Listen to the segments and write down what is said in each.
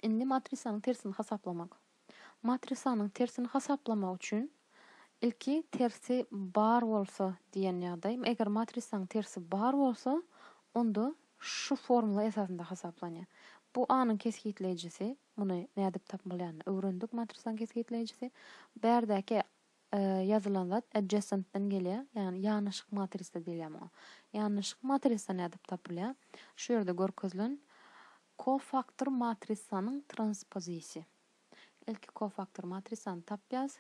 Indi matrisanyň tersini hasaplamak. Matrisanyň tersini hasaplamak üçin ilki tersi bar bolsa diýen ýagdaý. Eger matrisanyň tersi bar bolsa, onda şu formula esasynda hasaplanýar. Bu A-nyň kesgitleýjisi, muny nädip tapmalýanyny öwrendik, matrisanyň kesgitleýjisi. Bärdäki E, ýazylan zat adjacent-den gelýär, ýagny ýanaşyk matrisa diýilýär muňa. Ýanaşyk matrisa nädip tapylýar? Şu ýerde görkezilen kofaktor matrisanyň transpozisi. Ilki kofaktor matrisany tapýas,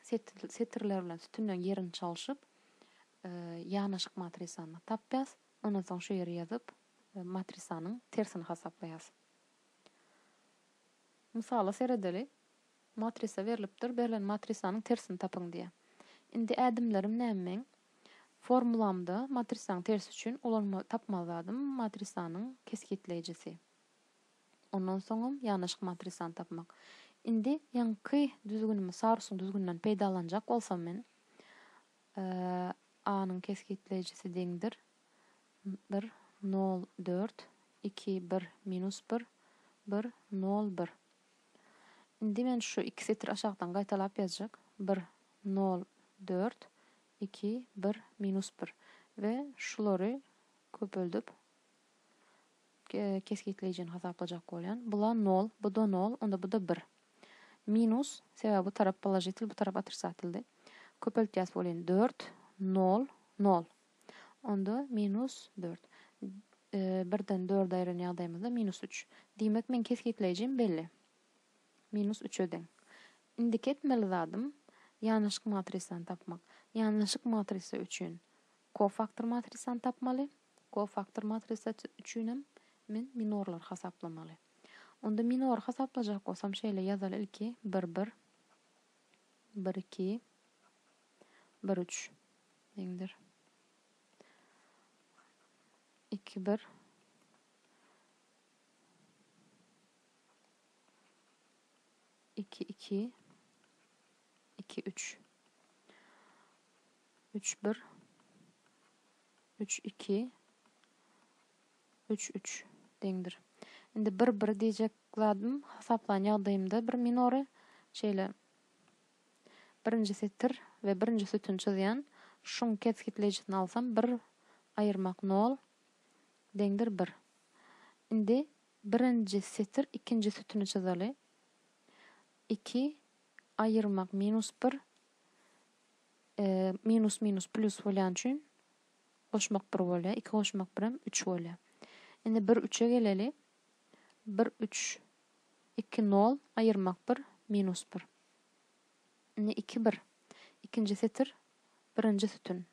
setirler bilen sütünleň ýerini çalşyp, e, ýanaşyk matrisany tapýas. Ondan soň şu ýere ýazyp, e, matrisanyň tersini hasaplaýas. Mysala seredeli. Matrisa berlipdir, berlen matrisanyň tersini tapyň diýýär. Indi ädimlerim näme meň? Formulamda matrisaň tersi üçin ulanma tapmaly zadym matrisanyň kesgitleýjisi. Ondan soňam ýanaşyk matrisany tapmak. Indi ýaňky düzgünimi Sarusyň düzgüninden peýdalanjak bolsam men A-nyň kesgitleýjisi deňdir bir nol dört iki bir minus bir bir nol bir. Indi men şu iki setir aşakdan gaýtalap ýazjak, bir, nol, dört, iki, bir, minus bir we şulary köpeldip kesgitleýjini hasaplajak bolýan. Bula nol, bu-da nol, onda bu-da bir. Minus, sebäbi bu tarap položitel, bu tarap otrisatildi. Köpeltýäs welin dört, nol, nol. onda minus dört. Birden dörde aýyran ýagdaýymyzda minus üç. Diýmek, meň kesgitleýjim belli. Minus üçe deň. Indiki etmeli zadym ýanaşyk matrisany tapmak. Ýanaşyk matrisa üçin kofaktor matrisany tapmaly. Kofaktor matrisa üçin hem men minorlary hasaplamaly. Onda minory hasaplajak bolsam şeýle ýazaly ilki bir bir bir iki bir üç. Deňdir. Iki bir. Iki iki. İki üç. Üç bir. Üç iki. Üç üç. Deňdir. Şimdi bir bir diyecek zadım hasaplan yağdayımda bir minory şeyle Birinji setir we birinji sütün çyzýan, şuň kesgitleýjisini alsam bir aýyrmak nol deňdir bir. Indi birinji setir ikinji sütüni çyzaly. Iki aýyrmak minus bir minus minus plus bolýany üçin goşmak bir bolýar. Iki goşmak birem üç bolýar. Indi bir üçe geleli. bir üç iki nol aýyrmak bir minus bir indi iki bir ikinji setir birinji sütün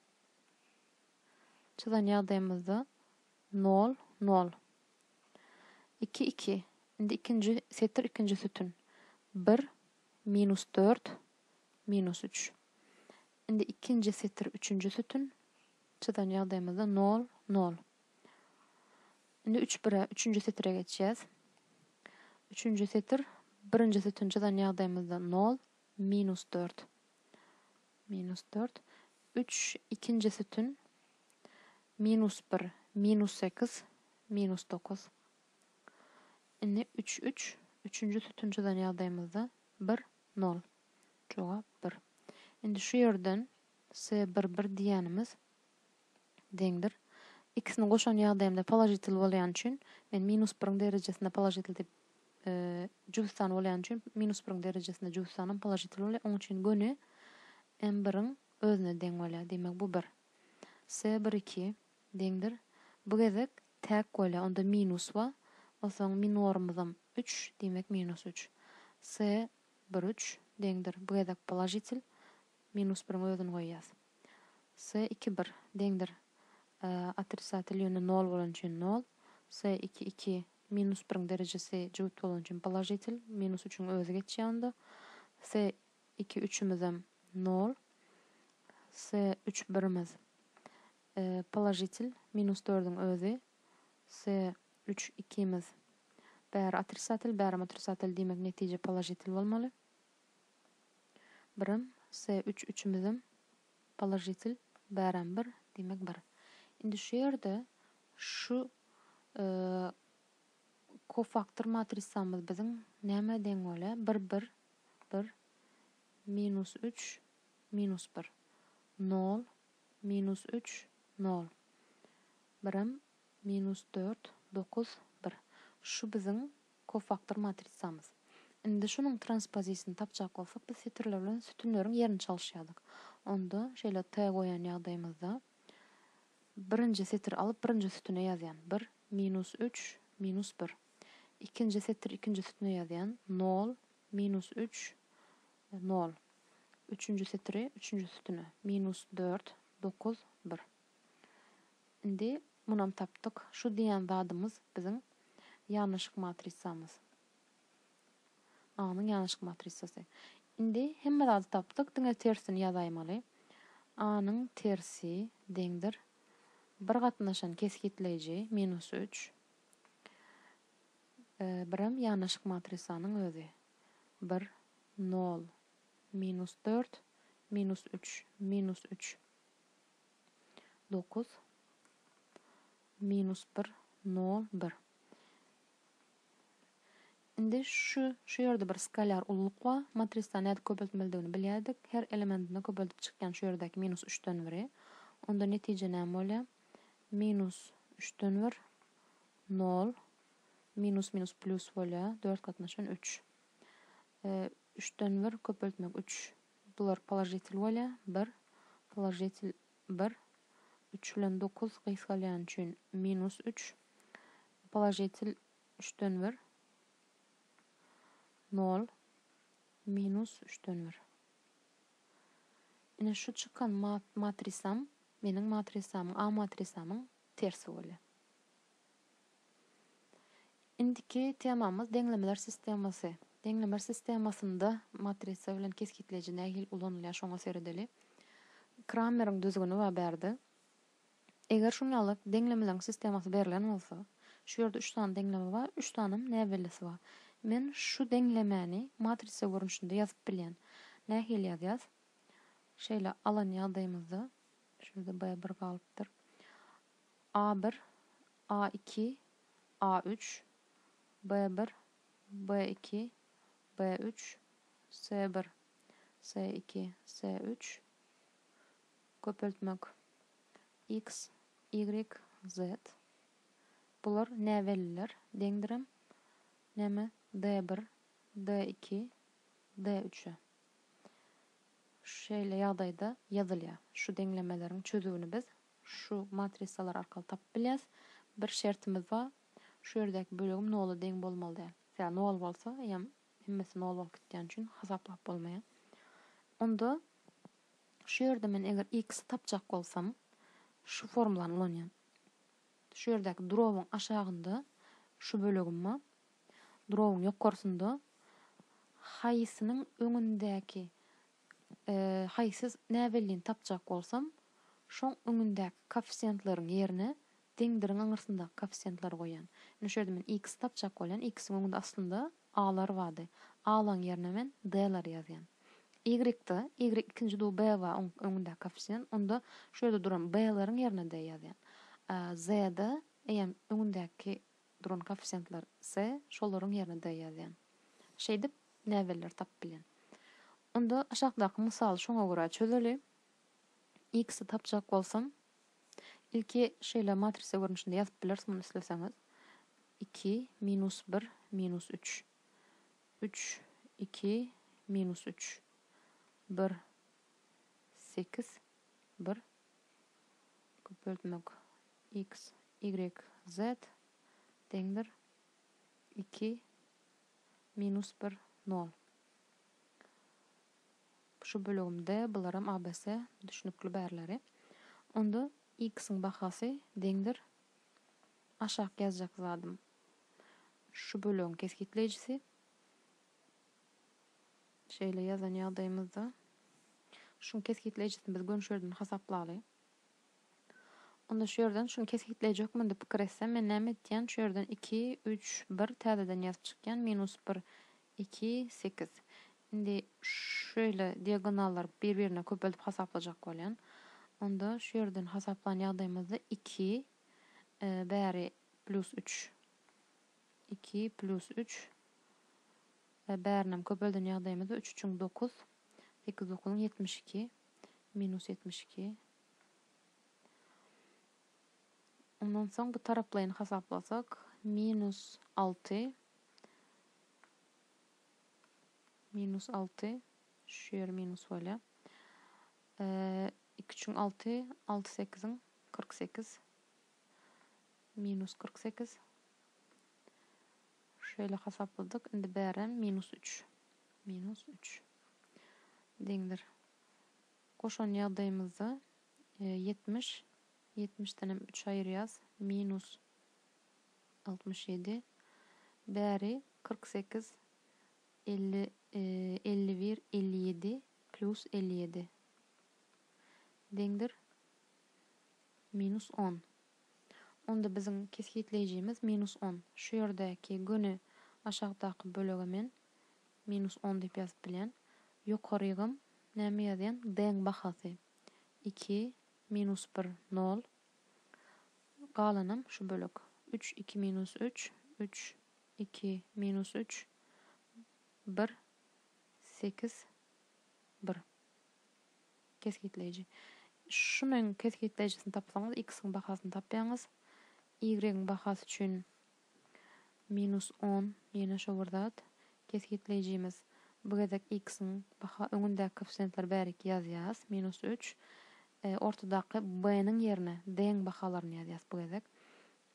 çyzan ýagdaýymyzda nol nol iki iki indi ikinji setir ikinji sütün bir minus dört minus üç indi ikinji setir üçünji sütün Çyzan ýagdaýymyzda nol, nol. Indi üç bire, üçünji setire geçýäs. Üçünji setir, birinji sütün çyzan ýagdaýymyzda nol, minus dört. Minus dört. Üç, ikinji sütün, minus bir, minus sekiz, minus dokuz. Indi üç, üç, üçünji sütün çyzan ýagdaýymyzda bir, nol. Jogap bir. Indi şu ýerden X-e bir bir diýýänimiz deňdir. X-ni goşan ýagdaýymda položitel bolýany üçin, men minus biriň derejesinde položitel diýip, jübüt san bolýany üçin minus biriň derejesinde jübüt sanam položitel bolýar. Oň üçin göni m biriň özüne deň bolýar. Diýmek, bu bir. X-e bir iki deňdir. Bu gezek täk bolýar. Onda minus bar. Onsoň minorymyzam üç, diýmek minus üç. X-e bir üç deňdir. Bu gezek položitel. Minus biriň özüni goýýas. S iki bir, deňdir, otrisatel ýöne nol bolany üçin nol, S iki iki, minus biriň derejesi jübüt bolany üçin položitel, minus üçüň özi geçýär onda, S iki üçümizem nol, S üç birimiz položitel, minus dördüň özi, S üç ikimiz bäri otrisatel, bärem otrisatel diýmek netije položitel bolmaly. Birim, se üç üçümizem položitel bärem bir diýmek bir. Indi şu ýerde şu kofaktor matrisamyz biziň nämä deň bolýa? Bir bir bir minus üç minus bir nol minus üç nol birim minus dört dokuz bir. Şu biziň Kofaktor matrisamyz. Indi şunuň transpozisyny tapjak bolsak, biz setirler bilen sütünleriň ýerini çalyşýardyk. Onda, şeýle t goýan ýagdaýymyzda, birinji setiri alyp, birinji sütüne ýazýan, bir, minus üç, minus bir. Ikinji setiri ikinji sütüne ýazýan, nol, minus üç, nol. Üçünji setiri üçünji sütüne, minus dört, dokuz, bir. Indi munam tapdyk. Şu diýen zadymyz biziň ýanaşyk matrisamyz. A-nyň ýanaşyk matrisasy. Indi hemme zady tapdyk, diňe tersini ýazaýmaly. A-nyň tersi deňdir bir gatnaşan kesgitleýji, minus üç. Birem ýanaşyk matrisanyň özi. Bir, nol, minus dört, minus üç, minus üç. Dokuz minus bir nol bir. Indi şu şu ýerde bir skalar ululyk bar. Matrisda nädip köpeltmelidigini bilýärdik. Her elementinde köpeldip çykýan şu ýerdäki minus üçden biri. Onda netije näme bolýar? Minus üçden bir nol minus minus plus bolýar. Dört gatnaşan üç. Üçden bir köpeltmek üç Bular položitel bolýa, bir, položitel, bir, üç bilen dokuz gysgalýany üçin minus üç, položitel, üçden bir, nol, minus üçden bir. Ine şu çykan matrisam meniň matrisamyň, A matrisamyň tersi bolýa. Indiki temamyz deňlemeler sistemasy. Deňlemer sistemasynda matrisa bilen kesgitleýji nähili ulanylýar şoňa seredeli. Krameriň düzgüni bar bärde. Eger şunýaly deňlemeleriň sistemasy berlen bolsa, şu ýerde üç sany deňleme bar, üç sanem näbellisi bar. Men şu deňlemäni matrisa görnüşinde ýazyp bilýän. Nähili ýazýas? Şeýle alan ýagdaýymyzda, şu ýerde B bir galypdyr. A-bir, A-iki, A-üç, B-bir, B-iki, B-üç, S-bir, S-iki, S-üç, köpeltmek, X, Y, Z, bular näbelliler, deňdirem, näme, D-bir, D-iki, D-üçe. Şeýle ýagdaýda ýazylýar. Şu deňlemeleriň çözüwini biz Şu matrisalar arkaly tapyp bilýäs. Bir şertimiz ba, şu ýerdäki bölegim nola deň bolmaly däl. Ýa nol bolsa, eýýäm hemmesi nol bolup gitýäni üçin hasaplap bolmaýar. Onda şu ýerde men eger x-i tapjak bolsam, şu formulany ulanýan. Şu ýerdäki drobyň aşagynda şu bölegim ba, drobyň ýokarsynda haýsynyň öňündäki Haý, siz näbellin tapjak bolsam, şoň öňündäki koeffisiýentlaryň ýerine deňdiriň aňyrsyndaky koeffisiýentleri goýýan. Indi şu ýerde men x-i tapjak bolýan, x-iň öňünde aslynda a-lar bardy. A-laň ýerine men d-lary ýazýan. Y-da, y ikinji dugy b bar, oň öňündäki koeffisiýent, onda şu ýerde duran b-laryň ýerine d ýazýan. Z-de eýýäm öňündäki duran koeffisiýentler S, şolaryň ýerine D ýazýan. Şeýdip, näbelleri tapyp bilýän. Onda aşakdaky mysaly şoňa görä çözeli. X-i tapjak bolsam, ilki şeýle matrisa görnüşinde ýazyp bileris muny isleseňiz. Iki, minus bir, minus üç. Üç, iki, minus üç. Bir, sekiz, bir, köpeltmek, x, ýigrik, zet, deňdir, iki, minus bir, nol. Şu bölegim D, bularam abc, düşnükli bärleri. Onda x-iň bahasy deňdir, aşak ýazjak zadym, şu bölegiň kesgitleýjisi, Şeýle ýazan ýagdaýymyzda, şuň kesgitleýjisini biz gömşerden hasaplaly. Onda şu ýerden şuny kesgitleýjekmen diýip pikir etsem, men näme etýän, şu ýerden iki, üç, bir täzeden ýazyp çykýan, minus bir, iki, sekiz. Indi şeýle diagonallary bir-birine köpeldip hasaplajak bolýan. Onda şu ýerden hasaplan ýagdaýymyzda iki, bäri plýus üç. Iki plus üç, e, bärinem köpelden ýagdaýymyzda üç üçiň dokuz, sekiz dokuzyň ýetmiş iki, minus ýetmiş iki. Ondan soň bu taraplaýyny hasaplasak, minus alty, minus alty, şu ýeri minus bolýar. E, iki üçiň alty, alty sekiziň kyrk sekiz. Minus kyrk sekiz. Şeýle hasapladyk. Indi bärem minus üç. Minus üç. Deňdir. Goşan ýagdaýymyzda ýetmiş. Ýetmişdenem üç aýyrýas. Minus altmyş ýedi. Bäri kyrk sekiz. Elli, elli bir, elli ýedi. Plyus elli ýedi. Deňdir. Minus on. Onda biziň kesgitleýjimiz minus on. Şu ýerdäki göni aşakdaky bölege men minus on diýip ýazyp bilýän. Ýokarygam näme ýazýan? D-iň bahasy iki, minus bir, nol. Galanam şu bölek. Üç, iki, minus üç, üç, iki, minus üç, bir, sekiz, bir. Kesgitleýji. Şunuň kesgitleýjisini tapsaňyz, x-iň bahasyny tapýaňyz. Y-iň bahasy üçin minus on, ýene şo bir zat. Kesgitleýjimiz, bu gezek x-iň baha, öňündäki koeffisiýentleri bäriki ýazýas, minus üç. Ortadaky b-niň ýerine d-iň bahalaryny ýazýas bu gezek.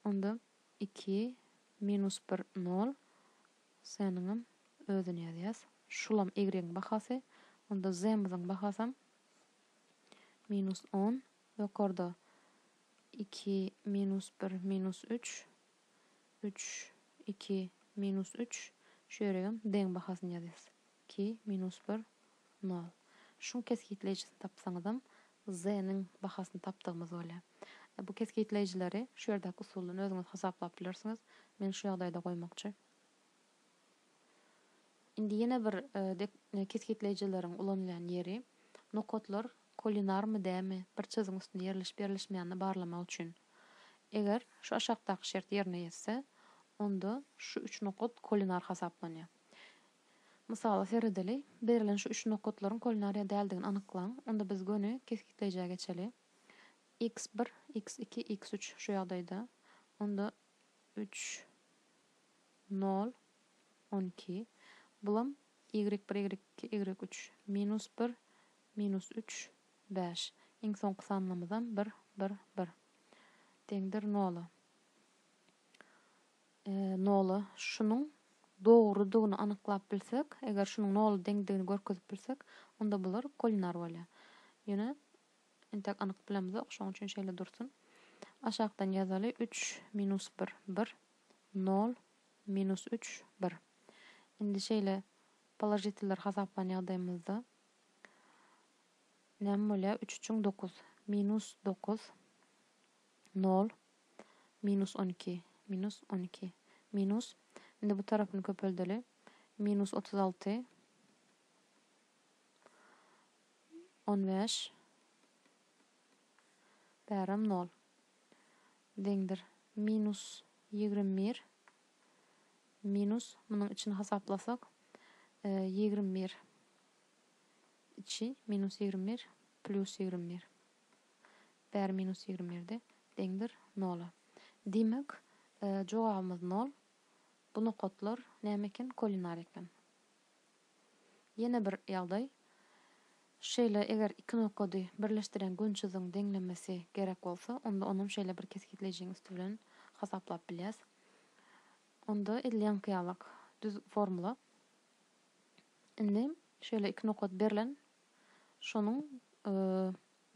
Onda iki, minus bir, nol. Seniňem özüni ýazýas. Şulam ýigregiň bahasy. Onda zemyzyň bahasam minus on. Ýokarda iki, minus bir, minus üç, üç, iki, minus üç. Şu ýeregem deň bahasyny ýazýas. Ki, minus bir, nol. Şuň kesgitleýjisini tapsaňyzam, z-niň bahasyny tapdygymyz bolýar. Bu kesgitleýjileri şu ýerdäki usuldan özüňiz hasaplap bilersiňiz. Men şu ýagdaýda goýmakçy. Indi ýene bir kesgitleýjileriň ulanylýan ýeri, nokatlar kolinarmy, dämi, bir çyzygyň üstünde ýerleşip-ýerleşmeýänini barlamak üçin. Eger şu aşakdaky şert ýerine ýetse, onda şu üç nokat kolinar hasaplanýar. Mysala seredeli. Berlen şu üç nokatlaryň kulinariýa däldigini anyklaň. Onda biz göni kesgitleýjä geçeli. X bir, X iki, X üç şu ýagdaýda. Onda üç, nol, on iki. Bulam Y bir, Y iki, Y üç. Minus bir, minus üç, bäş. Iň soňky sanlamyzam bir, bir, bir. Deňdir nola. Nola şunuň dogrudygyny anyklap bilsek, eger şunuň nola deňdigini görkezip bilsek, onda bular kolinar bolýar. Ýöne entek anyk bilemzok, şoň üçin şeýle dursun. Aşakdan ýazaly, üç minus bir, bir, nol, minus üç, bir. Indi şeýle položitiller hasaplan ýagdaýymyzda näme bolýar? Üç üçiň dokuz, minus dokuz, Nol. Minus on iki. Minus on iki. Minus. Indi bu tarapyny köpeldeli. Minus otuz alty. On bäş. Bäram nol. Deňdir. Minus ýigrimi bir. Minus. Munuň içini hasaplasak. E, ýigrimi bir. Içi. Minus ýigrimi bir. Plus ýigrimi bir. Bäri minus ýigrimi birde deňdir nola. Diýmek, jogabymyz nol. Bu nokatlar näme eken? Kolinar eken. Ýene bir ýagdaý. Şeýle eger iki nokady birleşdirýän gönçüziň deňlemesi gerek bolsa, onda onam şeýle bir kesgitleýjiň üsti bilen hasaplap bilýäs. Onda edil ýaňky ýalak düz formula. Indi şeýle iki nokat berlen, şonuň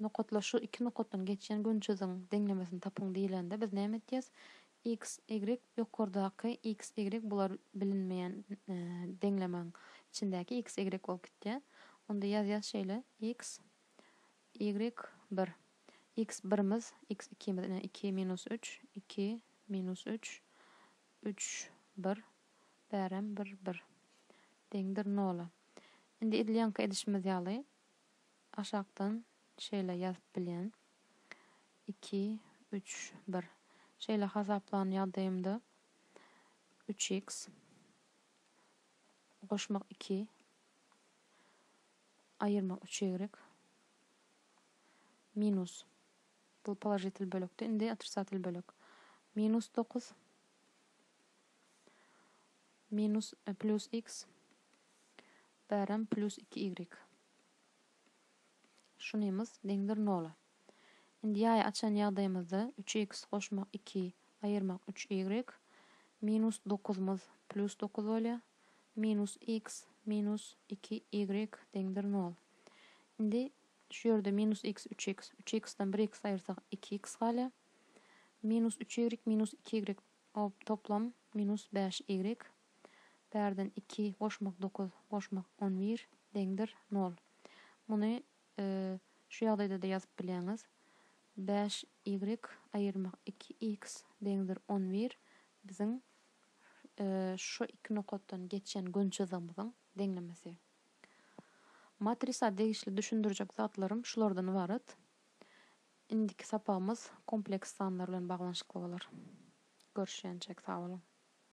Nokatlar şu iki nokatdan geçýän gönçüziň deňlemesini tapyň diýlende biz näme etýäs? X, Y, ýokardaky X, Y bular bilinmeýän deňlemäň içindäki X, Y bolup gitýär. Onda ýazýas şeýle, X, Y, bir. X, birimiz, X, ikimiz, ine, iki minus üç, iki minus üç, üç, bir, bärem bir, bir. Deňdir nola. Indi edil ýaňky edişimiz ýaly. Aşakdan şeýle ýazyp bilýän, iki, üç, bir. Şeýle hasaplan ýagdaýymda üç iks goşmak iki, aýyrmak üç ýegrik, minus, bu položitel bölekdi, indi otrisatel bölek, minus dokuz, minus, pljus iks, bärem pljus iki ýegrik. Şunymyz deňdir nola. Indi ýaýy açan ýagdaýymyzda üç iks goşmak iki, aýyrmak üç ýigrik, minus dokuzymyz plýus dokuz bolýar, minus iks minus iki ýigrik deňdir nol. Indi şu ýerde minus iks üç iks, üç iksden bir iks aýyrsak iki iks galýar. Minus üç ýigrik minus iki ýigrik toplam minus bäş ýigrik. Bärden iki goşmak dokuz goşmak on bir deňdir nol. Muny şu ýagdaýda-da ýazyp bileňiz. Bäş ýigrik aýyrmak iki iks deňdir on bir biziň şu iki nokatdan geçen gün çyzygymyzyň deňlemesi. Matrisa degişli düşündirjek zatlarym şulardan ybarat. Indiki sapagymyz kompleks sanlar bilen baglanyşykly bolar. Görüşýänçäk sag boluň.